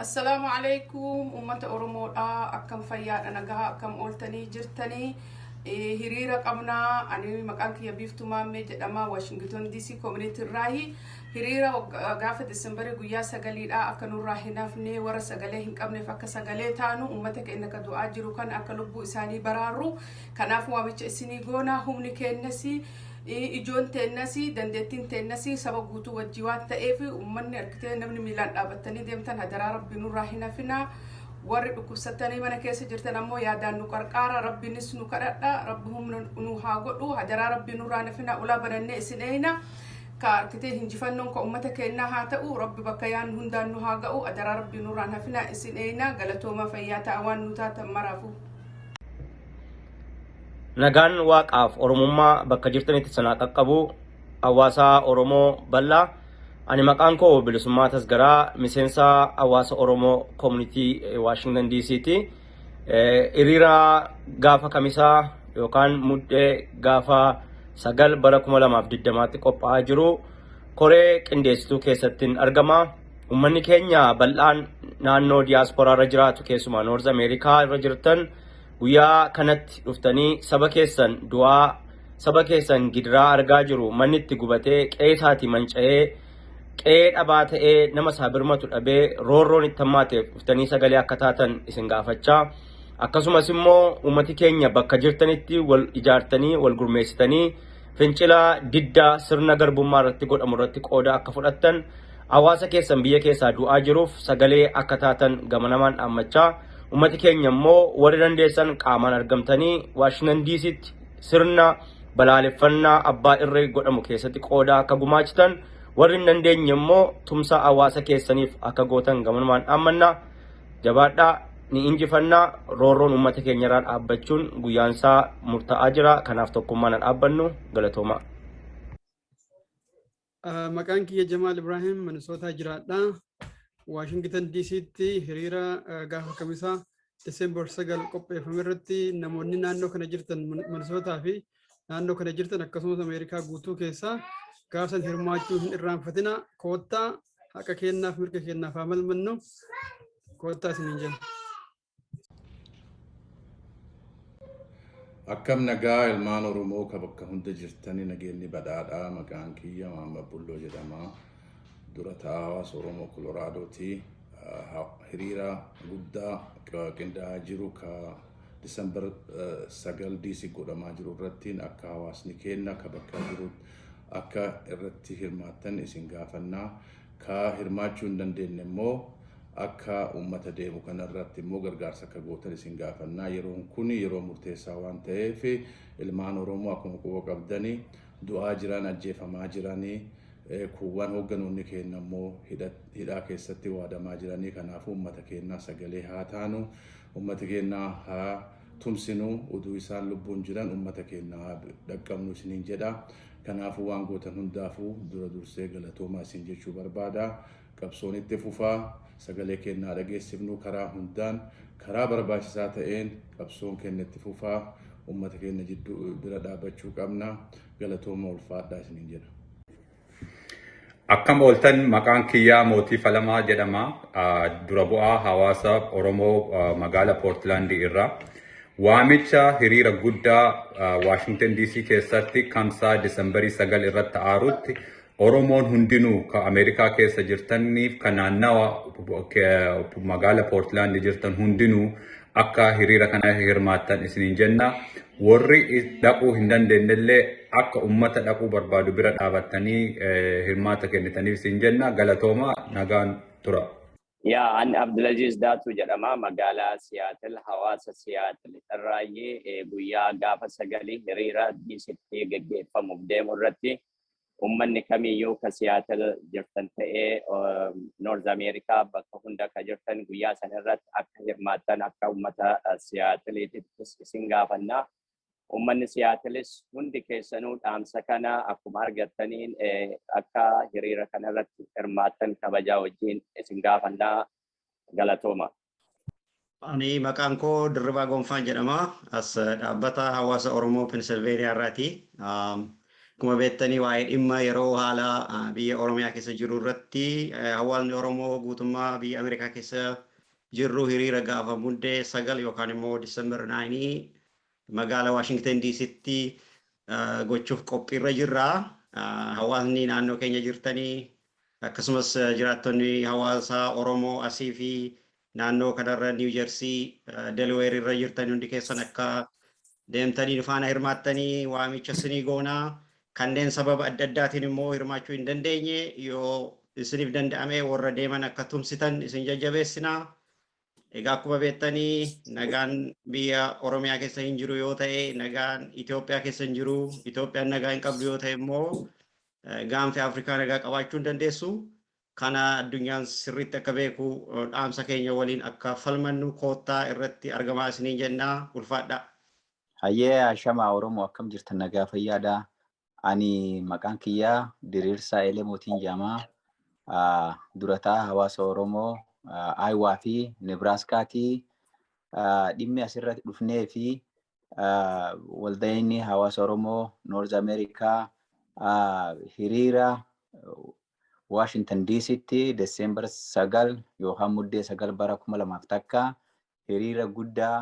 Assalaamu alaikum uummata Oromoodha akkam fayyaadha nagaa akkam ooltanii jirtanii Eh, hiriira qabnaa ani maqaan kiyya biiftuu maammee jedhama waashington dc community irraahi hiriira wagga- gaafa desembarii guyyaa sagaliidha akka nurraa hin hafne warra sagalee hin qabneef akka sagalee taanu uummata keenya akka du'aa jiru kan akka lubbuu isaanii baraarru Kanaaf waamicha isinii goona humni keenyas ijoon teenyas dandeettiin teenyas saba guutuu wajjii waan ta'eef uummanni argitee namni miilaan dhaabattanii deemtan hadaraa rabbi nurraa hin hafinaa warri dhukkubsattanii mana keessa jirtan ammoo yaadaan nu qarqaara rabbinis nu kadhadha rabbi humna nu haa godhu hadaraa rabbi nurraa hin hafinaa ulaa banannee isin eeyna ka argitee hinjifannoon ka uummata keenyaa haa ta'u rabbi bakka yaan hundaan nu haa ga'u hadaraa rabbi nurraa hin hafinaa isin eeyna galatoomaa fayyaa ta'a waan nu taatan maraafuu. Nagaan waaqaaf Oromummaa bakka jirtanitti sanaa qaqqabu hawaasaa Oromoo bal'aa ani maqaan koo bilisummaa tasgaraa miseensa hawaasa Oromoo koomunitii Waashingtan DC'ti. Hiriira gaafa kamisaa yookaan muddee gaafa sagal bara 2020tti qophaa'aa jiru koree qindeessituu keessattiin argama. Uummanni keenya bal'aan naannoo diyaasporaa irra jiraatu keessumaa Noorz Ameerikaa irra jirtan guyyaa kanatti dhuftanii saba keessan du'aa saba keessan gidiraa argaa jiru manni itti gubatee qe'ee isaatii manca'ee qe'ee dhabaa ta'ee nama isaa birmatu dhabee roorroon itti hammaateef dhuftanii sagalee akka taatan isin gaafachaa akkasumas immoo uummati keenya bakka jirtanitti wal ijaartanii wal gurmeessitanii fincila diddaa sirna garbummaa irratti godhamu irratti qooda akka fudhattan Hawaasa keessan biyya keessaa du'aa jiruuf sagalee akka taatan gamanamaan dhaammachaa, ummati keenya immoo warri dandeessan qaamaan argamtanii Waashingitan Diisiitti sirna balaaleffannaa abbaa irree godhamu keessatti qooda akka gumaachitan, warri hin dandeenye immoo tumsa hawaasa keessaniif akka gootan gamanumaan dhaammanna. Jabaadhaa, ni injifanna, roorroon ummata keenyarraa dhaabbachuun guyyaansaa murtaa'aa jira, kanaaf tokkummaan haa dhaabbannu. Galatoomaa. Maqaan kiyya Jamaal Ibraahim Minisootaa jiraadha. Waashingitan DC'tti hiriira gaafa kamisaa Diseembar 9 qopheeffame irratti namoonni naannoo kana jirtan Minisootaa fi naannoo kana jirtan akkasumas Ameerikaa guutuu keessaa gaafsan hirmaachuu hin irraanfatina koottaa haqa keenyaaf mirga keenyaaf haa falmannu koottaa isiniin jenna. Akkam nagaa ilmaan Oromoo ka bakka hunda jirtani nageenni badhaadhaa maqaan kiyya Maamma Bulloo jedhama. Dura ta'aa hawaasa Oromoo Koloraadooti. Hiriira guddaa qindaa'aa jiru ka Disembar 9 DC godhamaa jiru irratti akka hawaasni keenna ka bakka jiru akka irratti hirmaattan isin gaafannaa. Kaa hirmaachuu hin dandeenne immoo akka uummata deemu kana irratti immoo gargaarsa akka gootan isin gaafannaa. Yeroon kun yeroo murteessaa waan ta'eef ilmaan Oromoo akkuma quba qabdani du'aa jiran, ajjeefamaa jirani, kuuwwan hoogganoonni keenna immoo hidhaa keessatti waadamaa jirani. Kanaafuu uummata keennaa sagalee haa taanu, uummata keenna haa tumsinu, uduu isaan lubbuun jiran uummata keenna haa dhaqqabnu isiniin jedha. Kanaafuu waan gootan hundaafuu dura dursee galatoomaa isin jechuu barbaada. Qabsoon itti fufa. Sagalee keenna haa dhageessifnu karaa hundaan, karaa barbaachisaa ta'een qabsoon keenna itti fufa. Ummata keenna jidduu bira dhaabbachuu qabna. Galatoomaa ulfaadhaa isiniin jedha. Akkam ooltan maqaan kiyyaa Mootii Falamaa jedhama. Dura bu'aa hawaasa Oromoo magaala Portland irraa. Waamicha hiriira guddaa Washington DC keessatti kamsaa Disembarii 9 irratti aarutti Oromoon hundinuu ka Ameerikaa keessa jirtaniif ka naannawa magaala Portland jirtan hundinuu akka hiriira kana hirmaattan isiniin jenna. Warri dhaquu hin dandeenyellee akka uummata dhaquu barbaadu bira dhaabattanii hirmaata kennitaniif isin jenna. Galatooma nagaan tura. Yaa an Abdulaziz Daatuu jedhama magaalaa Siyaatil hawaasa Siyaatil irraayyee guyyaa gaafa sagalii hiriira diisitti geggeeffamuuf deemu irratti ummanni kamiyyuu ka Seattle jirtan ta'ee North America bakka hunda ka jirtan guyyaa san irratti akka hirmaattan akka ummata Seattle'tittis isin gaafanna. Ummanni Seattle'is hundi keessanuu dhaamsa kana akkuma argattaniin akka hiriira kana irratti hirmaattan kabajaa wajjin isin gaafanna. Galatooma. Ani maqaan koo Dirribaa Gonfaan jedhama. As dhaabbata hawaasa Oromoo Pennsylvania irraati. Akkuma beektanii waa'ee dhimma yeroo haala biyya Oromiyaa keessa jiru irratti hawaasni Oromoo guutummaa biyya Ameerikaa keessa jirru hiriira gaafa Muddee 9 yookaan immoo December 9 Magaala Washington DCtti gochuuf qophiirra jirra. Hawaasni naannoo keenya jirtanii akkasumas jiraattonni hawaasa Oromoo asii fi naannoo kanarra New Jersey, Delaware irra jirtan hundi keessan akka deemtanii nu faana hirmaattanii waamicha isinii goona. Kanneen sababa adda addaatiin immoo hirmaachuu hin dandeenye yoo isiniif danda'ame warra deeman akka tumsitan isin jajjabeessina. Egaa akkuma beektani nagaan biyya Oromiyaa keessa hin jiru yoo ta'e nagaan Itoophiyaa keessa hin jiru. Itoophiyaan nagaa hin qabdu yoo ta'e immoo gaanfi Afrikaa nagaa qabaachuu hin dandeessu. Kana addunyaan sirriitti akka beeku dhaamsa keenya waliin akka falmannu koottaa irratti argamaa isiniin jenna ulfaadhaa. Hayyee Ashamaa Oromoo akkam jirtan nagaa fayyaadhaa? Ani maqaan kiyyaa Diriirsaa Elemotiin jedhamaa. Durataa hawaasa Oromoo Ayiwaa fi Nebraaskaatii dhimmi asirratti dhufnee fi waldayni hawaasa Oromoo Noorz Ameerikaa hiriira Waashintan Diisitti Deseembar sagal yookaan muddee sagal bara kuma lamaaf takka hiriira guddaa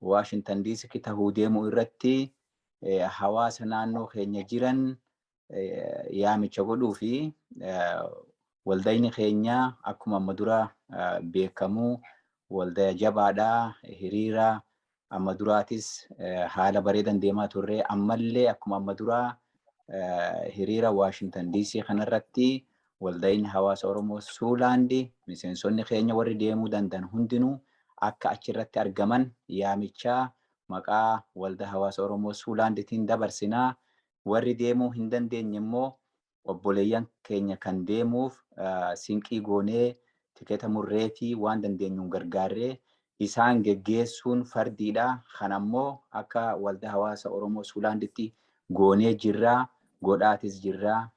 Waashintan Diisitti tahuu deemu irratti hawaasa naannoo keenya jiran yaamicha godhuu fi waldayni keenya akkuma amma dura beekamu waldaya jabaadha hiriira Amma duraatis haala bareedan deemaa turre. Ammallee akkuma amma duraa hiriira Waashingtan DC kanarratti walda'iin hawaasa Oromoo Suulaandi miseensonni keenya warri deemuu danda'an hundinuu akka achirratti argaman yaamichaa maqaa walda hawaasa Oromoo Suulaanditiin dabarsinaa. Warri deemuu hin dandeenye immoo obboleeyyan keenya kan deemuuf sinqii goonee tiketa murreefii waan dandeenyuun gargaarree isaan geggeessuun fardiidha. Kana immoo akka Waldaa Hawaasa Oromoo Suulaanditti goonee jirra. Godhaatis jirra.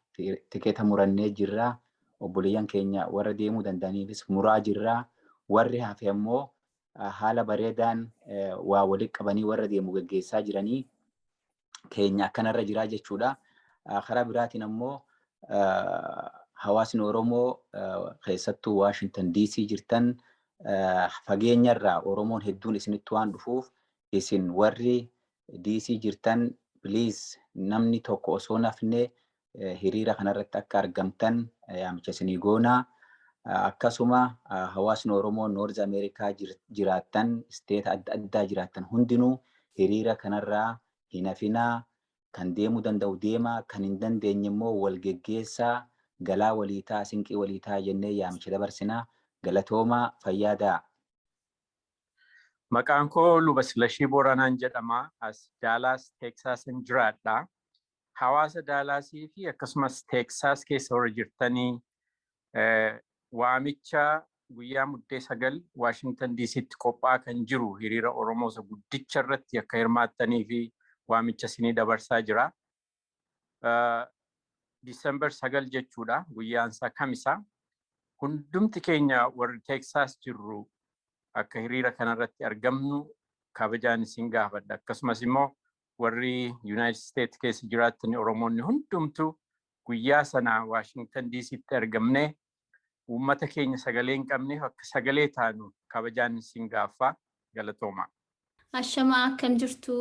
Tiketa murannee jirra. Obboleeyyan keenya warra deemuu danda'aniifis muraa jirra. Warri hafe immoo haala bareedaan waa walitti qabanii warra deemu geggeessaa jiranii. keenya akkanarra jiraa jechuudha. Karaa biraatiin ammoo hawaasni Oromoo keessattuu Waashintan DC jirtan fageenyarraa Oromoon hedduun isinitti waan dhufuuf isin warri DC jirtan please namni tokko osoo nafne hiriira kanarratti akka argamtan yaamicha isinii goona. Akkasuma hawaasni Oromoo Noorz Ameerikaa jiraattan, isteeta adda addaa jiraattan hundinuu hiriira kanarraa hin hafinaa. Kan deemuu danda'u deemaa, kan hin dandeenye immoo wal geggeessaa, galaa walii ta'aa, sinqii walii ta'aa jennee yaamicha dabarsina. Galatoomaa, fayyaa ta'aa. Maqaan koo Luba Silashii Booranaan jedhama. As Daalaas Teeksaasin jiraadha. Hawaasa Daalaasii fi akkasumas Teeksaas keessa warri jirtanii waamicha guyyaa Muddee 9 Waashingtan DCtti qophaa'aa kan jiru hiriira Oromoo isa guddicha irratti akka hirmaattanii fi waamicha isinii dabarsaa jira. December 9 jechuudha guyyaan isaa kamisa. Hundumti keenya warri Teeksaas jirru akka hiriira kanarratti argamnu kabajaan isin gaafadha. Akkasumas immoo warri Yuunaayitid Isteet keessa jiraattan Oromoonni hundumtu guyyaa sana Waashingtan Diisiitti argamnee uummata keenya sagalee hin qabneef akka sagalee taanu kabajaan isin gaaffa galatoomaa. Ashamaa akkam jirtu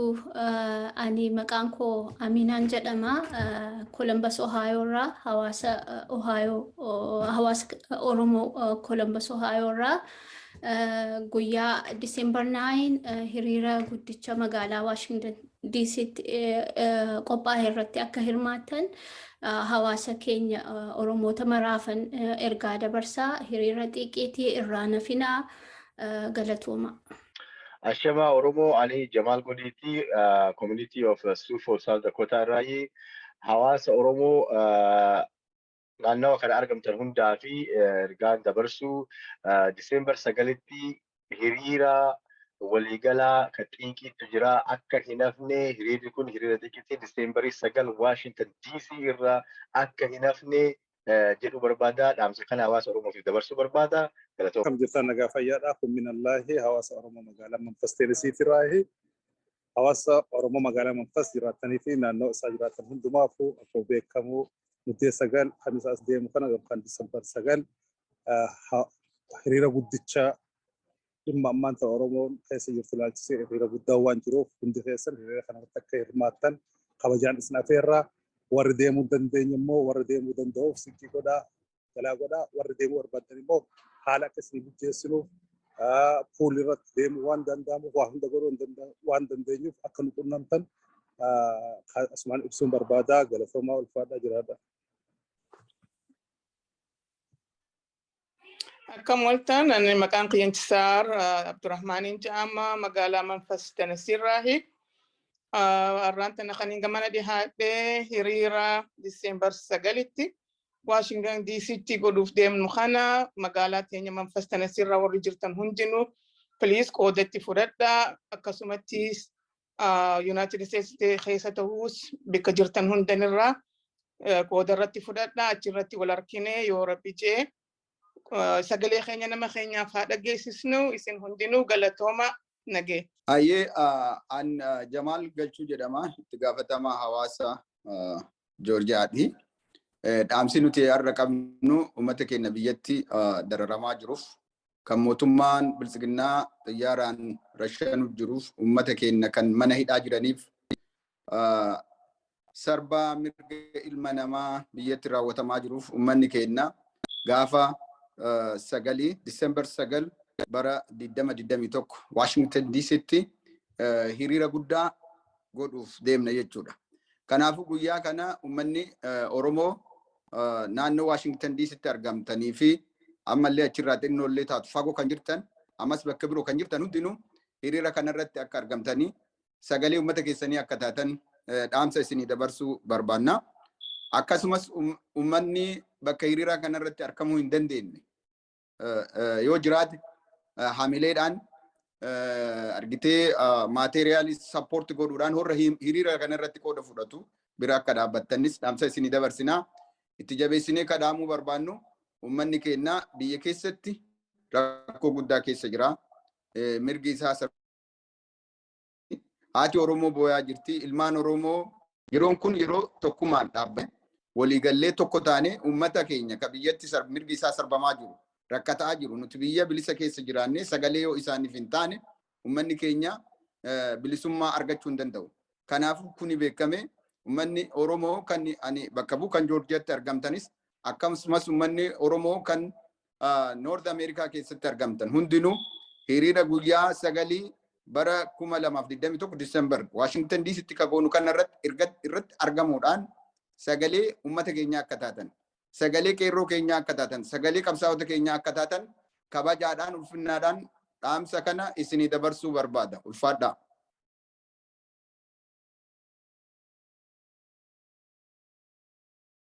ani maqaan koo Aminaan jedhama Columbus Ohio irraa hawaasa Ohio hawaasa Oromoo Columbus Ohio irraa guyyaa December 9 hiriira guddicha magaalaa Washington DCtti qophaa'e irratti akka hirmaatan hawaasa keenya Oromoota maraafan ergaa dabarsaa hiriira xiiqiitii irraa nafinaa galatooma. Ashamaa Oromoo ani Jamaal Godiitii Community of Sioux Falls South Dakota irraayi hawaasa Oromoo naannawa kana argamtan hundaa fi ergaan dabarsuu Diseembar sagalitti hiriira waliigalaa kan xiiqiitu jira akka hin hafne hiriirri kun hiriira xiiqiitti Diseembarii sagal Waashintan DC irra akka hin hafne jedhu barbaada dhaamsa kana hawaasa Oromootiif dabarsuu barbaada galatooma. Akkam jirtaan nagaa fayyaadhaa kun minallaahi hawaasa Oromoo magaalaa Manfas Teenisiitiraahi hawaasa Oromoo magaalaa Manfas jiraatanii fi naannoo isaa jiraatan hundumaafuu akkuma beekamu muddee sagal kan isaas deemu kana yookaan disembar sagal hiriira guddicha dhimma ammaan ta'e Oromoon keessa jirtu ilaalchisee hiriira guddaa waan jiruuf hundi keessan hiriira kanarratti akka hirmaattan kabajaan isin afeerraa warri deemuu dandeenye immoo warri deemuu danda'uuf siqii godhaa jalaa godhaa warri deemuu barbaadan immoo haala akka isin mijeessinuuf puulii irratti deemuu waan danda'amuuf waa hunda godhuu waan dandeenyuuf akka nu qunnamtan asumaan ibsuun barbaadaa galatoomaa ulfaadhaa jiraadha. Akka mooltaan ani maqaan qiyyanchisaar Abdurrahmaaniin jedhama magaalaa Manfas Tennessee irraahi. Arraan tana kan hin gamana dhihaadhee hiriira Diseembar sagalitti Waashingan DCtti godhuuf deemnu kana magaalaa teenya Manfas Tanasii irraa warri jirtan hundinuu please qooda itti fudhadhaa akkasumattis Yuunaayitid Isteetsi keessa ta'us bakka jirtan hundanirraa qooda irratti fudhadhaa achirratti wal arkinee yoo rabbi jee Uh, sagalee keenya nama keenyaaf haa dhageessisnu isin hundinuu galatooma nagee. Ayyee uh, an uh, Jamaal Galchuu jedhama itti gaafatamaa hawaasa uh, Joorjiyaati. Eh, Dhaamsi nuti har'a qabnu uummata keenya biyyatti uh, dararamaa jiruuf kan mootummaan biltsiginnaa xiyyaaraan rashanuuf jiruuf uummata keenya kan mana hidhaa jiraniif uh, sarbaa mirga ilma namaa biyyatti raawwatamaa jiruuf uummanni keenya gaafa sagalii Disembar sagal bara 2021 Waashingtan Diisitti hiriira guddaa godhuuf deemna jechuudha. Kanaafuu guyyaa kana uummanni Oromoo naannoo Waashingtan Diisitti argamtanii fi ammallee achirraa xinnoollee taatu fagoo kan jirtan ammas bakka biroo kan jirtan hundinuu hiriira kanarratti akka argamtanii sagalee uummata keessanii akka taatan dhaamsa isinii dabarsuu barbaanna. Akkasumas uummanni bakka hiriiraa kanarratti argamuu hin dandeenye yoo jiraate hamileedhaan argitee maateeriyaalii sappoorti godhuudhaan warra hiriira kanarratti qooda fudhatu bira akka dhaabbattanis dhaamsa isinii dabarsinaa. Itti jabeessinee kadhaamuu barbaannu uummanni keenya biyya keessatti rakkoo guddaa keessa jira. Mirgi isaa Haati Oromoo booyaa jirti. Ilmaan Oromoo yeroon kun yeroo tokkummaan dhaabbanne waliigallee tokko taanee uummata keenya ka biyyatti mirgi isaa sarbamaa jiru rakkataa jiru nuti biyya bilisa keessa jiraannee sagalee yoo isaaniif hin taane uummanni keenya bilisummaa argachuu hin danda'u. Kanaafuu kuni beekamee uummanni Oromoo kan ani bakka bu'u kan Joorjiyatti argamtanis akkasumas uummanni Oromoo kan Noord Ameerikaa keessatti argamtan hundinuu hiriira guyyaa sagalii bara 2021 Disembar Waashingtan Diisitti kagoonu kana irratti argamuudhaan sagalee uummata keenyaa akka taatan, sagalee qeerroo keenyaa akka taatan, sagalee qabsaa'ota keenyaa akka taatan kabajaadhaan ulfinnaadhaan dhaamsa kana isinii dabarsuu barbaada. Ulfaadhaa.